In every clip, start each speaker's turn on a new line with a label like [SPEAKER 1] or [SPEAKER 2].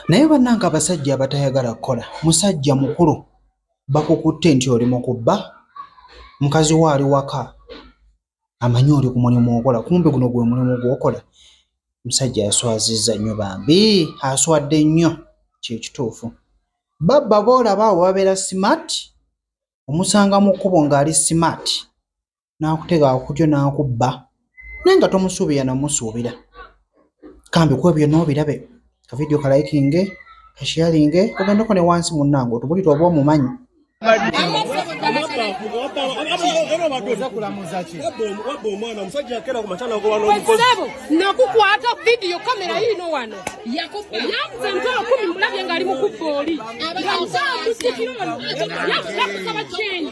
[SPEAKER 1] naye bannange abasajja abatayagala kukola musajja mukulu bakukutte nti oli mu kubba mukazi wo ali waka amanyi oli ku mulimu okola kumbe guno gwe mulimu gwokola musajja aswazizza nnyo bambi aswadde nnyo kyekituufu babba boolaba awo babeera simaati omusanga mu kkubo ng'ali simaati n'akuteega akutyo n'akubba naye nga tomusuubira na musuubira kambi kuba byonna obirabe ka vidiyo ka likinge ka sharinge ogendeko ne wansi munnange otubulire oba omumanyi nakukwata
[SPEAKER 2] vidiyo kamera yiino wano yakuze ntolo kumi mulabye ngaali mukubba oli yakusaba kyenyi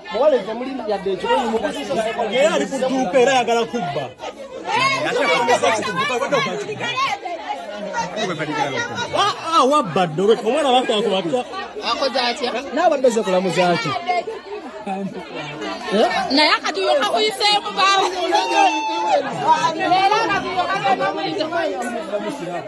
[SPEAKER 2] muwala eze muli yadde
[SPEAKER 3] ekikoni mukuzisaera ali ku dduuka era ayagala kubba ah, ah, wabba ddobe omwana bakakubatya akoze atya
[SPEAKER 2] naabadde ze kulamuzaki
[SPEAKER 3] eh?
[SPEAKER 2] naye akati yoka kuyiseemu baamu